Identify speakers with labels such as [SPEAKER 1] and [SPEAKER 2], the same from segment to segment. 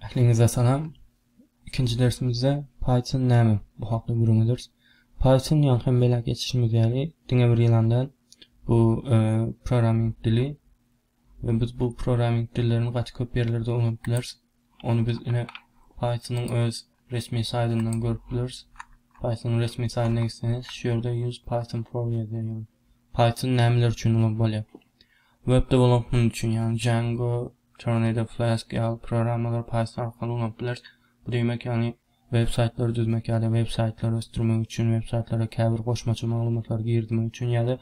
[SPEAKER 1] Ähliňize salam. Ikinji dersimizde Python näme? Bu hakda gürrüň ederis. Python ýaňky hem belläp geçişimiz ýaly diňe bir ýylan däl. Bu e, programming dili we biz bu programming dillerini gaty köp ýerlerde ulanyp bileris. Ony biz ine Pythonyň öz Resmi saýdyndan görüp bileris. Python-yň resmi saýdyna gitseňiz, şu ýerde Use Python for ýazýar, ýagny Python nämeler üçin ulag bolýar. Web dewelopment üçin, ýagny Django, Tornado, Flask ýaly programmalary Python arkaly ulanyp bileris. Bu diýmek, ýagny web saýtlary düzmek ýa-da web saýtlary ösdürmek üçin, web saýtlara käbir goşmaça maglumatlary girizmek üçin ýa-da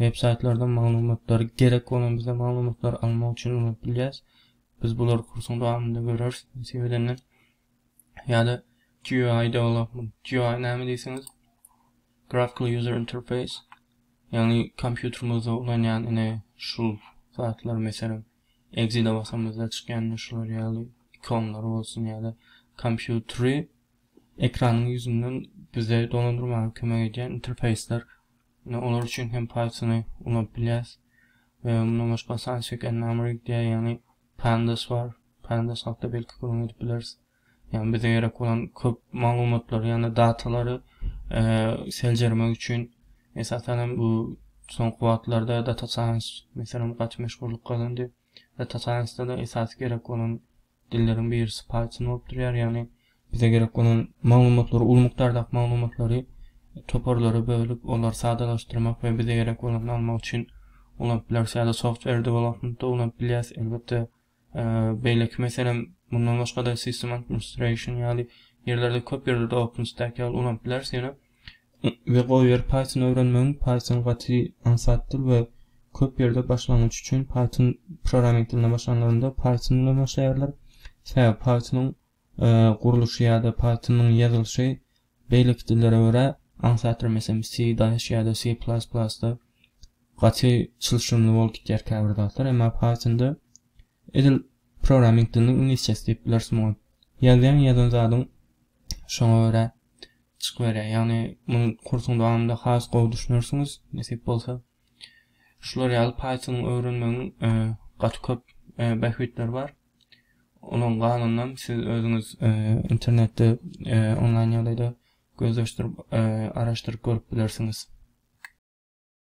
[SPEAKER 1] web saýtlardan maglumatlary gerek bolan bize maglumatlary almak üçin ulanyp bilýäris. Biz bulary kursuň dowamynda göreris, nesip edende. ýa-da GUI development. GUI näme diýseňiz, Graphical User Interface, ýagny kompýuterimizde ulanýan ine şu zatlar, meselem, exit basamyzda çykýan şular ýaly ikonlar bolsun ýa-da kompýuteri ekranyň ýüzünden bize dolandyrmaga kömek edýän interfeýsler. Ine olar üçin hem Python-y ulanyp bilýäris. We mundan başga Sunset and Namrig diýýär, ýagny Pandas bar. Pandas hakda belki gürrüň edip bileris. Ýagny bize gerek bolan köp maglumatlary ýa-da datalary seljermek üçin esasan hem bu soňky wagtlarda data science meselem gaty meşhurlyk gazandy. Data science-da-da esasy gerek bolan dilleriň birisi Python bolup durýar. Ýagny Bize gerek bolan maglumatlary, uly mukdardaky maglumatlary toparlara bölüp, olary sadalaşdyrmak we bize gerek bolanyny almak üçin ulanyp bileris ýa-da software development-da ulanyp bilýäs. Elbetde, beýleki meselem, mundan başga-da system administration ýaly ýerlerde, köp ýerlerde OpenStack ýaly ulanyp bileris ýöne. We goýber Python öwrenmegiň, Python gaty aňsat dil we köp ýerde başlangyç üçin Python programming diline başlanlarynda Python bilen başlaýarlar. Sebäbi Pythonyň gurluşy ýa-da Python-yň ýazylyşy beýleki dillere görä aňsatdyr, meselem, C-daş ýa-da C-da gaty çylşyrymly bolup gidýär käbir zatlar, emma Python-da edil programming diliniň iňlisçesi diýip bileris muňa. Ýazýaň, ýazan zadyň şoňa görä çykyberýär. Ýagny muny kursuň dowamynda has gowy düşünersiňiz, nesip bolsa. Şular ýaly Python-y öwrenmegiň gaty köp bähbitleri bar. Onuň galanyny siz özüňiz internetde onlaýn ýagdaýda gözleşdirip, araşdyryp görüp bilersiňiz.